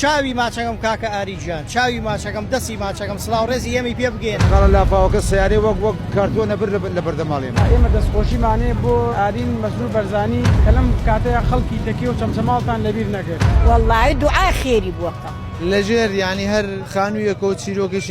چاوی ماچەکەم کاکە ئاری گیان. چاوی ماچەکەم دەسی ماچەکەم سلاو ڕێزی ئێمەی پێ بگێن. خاڵە لافاوەکە سەیارەی وەک وەک کارتۆنە بر لە لە بەردەماڵێ من. ئێمە دەستخۆشیمانێ بۆ ئارین مەسرور بەرزانی کە لەم کاتەیا خەڵکی تەکێ و چەمچەماڵتان لەبیر نەکرد. وەڵایی دوعای خێری بۆ کە. لەژێر یانی هەر خانویەکەو چیرۆکێکی.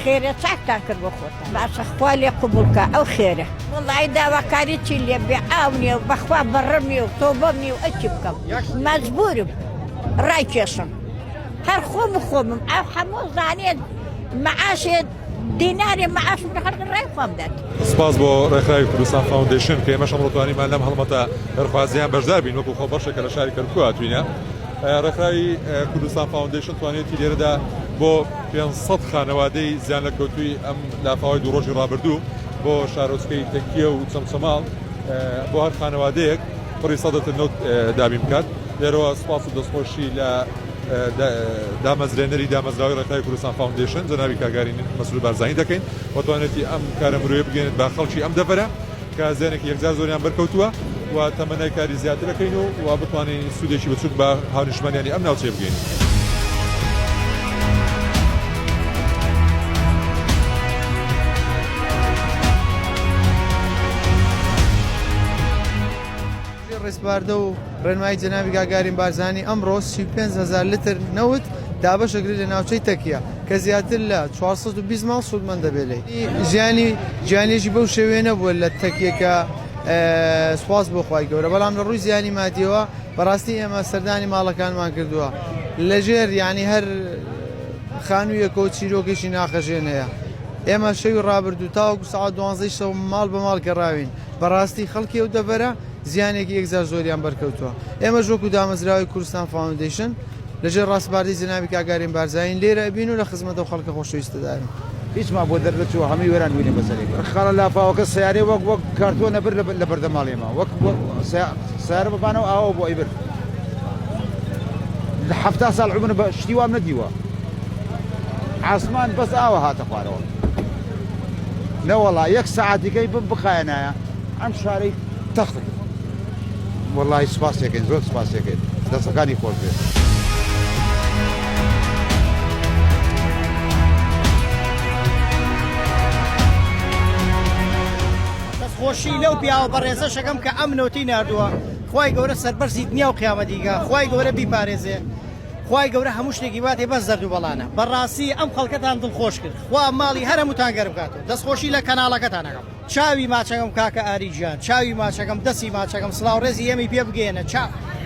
خێرە چاکتان کرد بۆ خۆتان. باشە خوا لێ قبوڵ کا ئەو خێرە. وەڵاهی داواکاری چی لێ بێ ئاو نیە و بەخوا بەڕم نیە و تۆبەم نیە و ئەی چی بکەم مەجبورم ڕایکێشم هەر خۆم و خۆمم ئەو حەموو زانێت مەعاشێ دینارێ مەعاشم لە خەرقی ڕای خۆم دەت. سپاس بۆ ڕێکخراوی کوردستان فاوندەیشن کە ئێمەش ئەمڕۆ توانیمان لەم هەڵمەتە خێرخوازییە بەشدار بین وەکو خۆ بەشێک کە لە شاری کەرکووک هاتووینە. ڕێکخراوی کوردستان فاوندەیشن توانیویەتی لێرەدا بۆ پێنج سەد خانەوادەی زیانلەکەوتووی ئەم لافاوەی دوو ڕۆژی ڕابردوو بۆ شارۆچکەی تەکیە و چەمچەماڵ بۆ هەر خانەوادەیەک پڕی سەدەتر نەوت دابین بکات لێرەوە سپاس و دەستخۆشی لە دامەزرێنەری دامەزراوی ڕێکخراوی کوردستان فاوندیشن جەنابی کاگاری مەسرور بارزانی دەکەین و توانێتی ئەم کارە مرۆیە بگەێنێت بە خەڵکی ئەم دەڤەرە کە زیانێکی یەکجار زۆریان بەرکەوتووە و تەمەنای کاری زیاتر ئەکەین و وا بتوانین سوودێکی بچووک بە هاونیشتمانیانی ئەم ناوچەیە بگەینین. بە ڕێسپاردە و ڕێنمایی جەنابی گاگارین بارزانی ئەمڕۆ سی و پێنج هەزار لتر نەوت دابەشەکرد لە ناوچەی تەکیە کە زیاتر لە چوار سەد و بیست ماڵ سوودمەند دەبێت لێی. ژیانی ژیانێکی بەو شێوەیە نەبووە لە تەکیە کە سوپاس بۆ خوای گەورە بەڵام لە ڕووی زیانی مادیەوە بەڕاستی ئێمە سەردانی ماڵەکانمان کردووە لە ژێر یانی هەر خانوویەکەوە چیرۆکێکی ناخەژێن هەیە ئێمە شەوی ڕابردوو تاوەکو سەعات دوانزەی شەو ماڵ بە ماڵ گەڕاوین بەڕاستی خەڵکی ئەو دەڤەرە زیانێکی یەکجار زۆریان بەرکەوتووە. ئێمەش وەکو دامەزراوەی کوردستان فاوندەیشن لە ژێر ڕاسپاردەی جەنابی کاک ئارین بارزانین لێرە ئەبین و لە خزمەت ئەو خەڵکە خۆشەویستەداین. هیچمان بۆ دەرنەچووە هەمووی وێران بووینە بەسەرێک. ڕەخکانە لافاوەکە سەیارەی وەک وەک کارتۆنە برد لە بەردەم ماڵی ئێمە. وەک سەیارە بە بانە و ئاوەوە بۆ ئەیبرد. لە حەفتا ساڵ عومرم شتی وام نەدیوە. عاسمان بەس ئاوە هاتە خوارەوە. نەوەڵا یەک سەعات دیکەی بم بخایەنایە ئەم شارەی تەخت کرد وەڵی سوپاسەکەین زۆر سوپاسەکەین دەستەکانی خۆش بێت. خۆشی لەو پیاوە بەڕێزە شەکەم کە ئەم نوتی نردووە خی گەورە سەربەرزی دنیا و قیامەتیگە خی گەورە بیپارێزێ خی گەورە هەموو شتێکی واتێ بەس دەردوو بەڵانە بەڕاستی ئەم خەڵکەتان دڵخۆش کرد خوا ماڵی هەر هەمووتان گەرم کات و دەستخۆشی لە کەناڵەکەتان ئەکەم. چاوی ماچەکەم کاکە ئاری گیان چاوی ماچەکەم دەسی ماچەکەم سلاو رێزی ئێمەی پێ بگەیەنە چا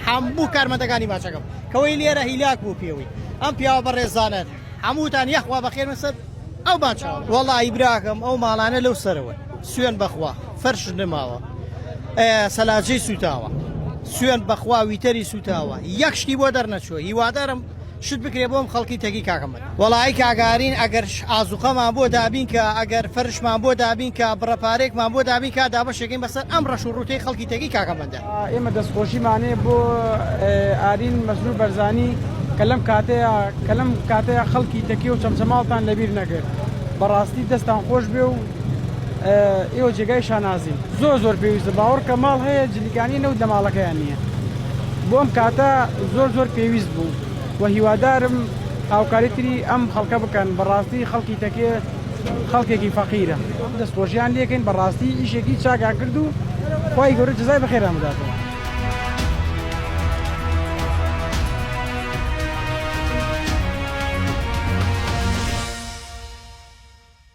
هەموو کارمەندەکانی ماچەکەم کەوەی لێرە هیلاک بوو پێوەی ئەم پیاوە بەڕێزانەت هەمووتان یەخوا بەخێر من سەر ئەو ماچە وەڵایی براکەم ئەو ماڵانە لەو سەرەوەن سوێن بەخوا فەرش نماوە سەلاجەی سوتاوە سوێن بەخوا ویتەری سوتاوە یەک شتی بۆ دەرنەچووە هیوادارم شت بکرێ بۆم خەڵکی تەگی کاکە مەلا. وەڵا ی کاک ئارین ئەگەر ئازوقەمان بۆ دابین کا ئەگەر فەرشمان بۆ دابین کا بڕە پارەیەکمان بۆ دابین کا دابەشێکەین بەسەر ئەم ڕەش و ڕووتەی خەڵکی تەگی کاکە مەلا. ئێمە دەستخۆشیمان هەیە بۆ ئارین مەزلوم بەرزانی کە لەم کاتەیا کە لەم کاتەیا خەڵکی تەکیەو چەمچەماڵتان لەبیر نەکرد بەڕاستی دەستان خۆشبێ و ئێوە جێگای شانازین. زۆر زۆر پێویستە باوەڕکە ماڵ هەیە جلیکانی نەوت لە ماڵەکەیان نییە بۆم کاتە زۆر زۆر پێویست بوو و هیوادارم هاوکاری تری ئەم خەڵکە بکەن بەڕاستی خەڵکی تەکێ خەڵکێکی فەقیرە دەستخۆشیان لێکەین بەڕاستی ئیشێکی چاگان کرد و خی گەورە جزای بەخێران بداتەوە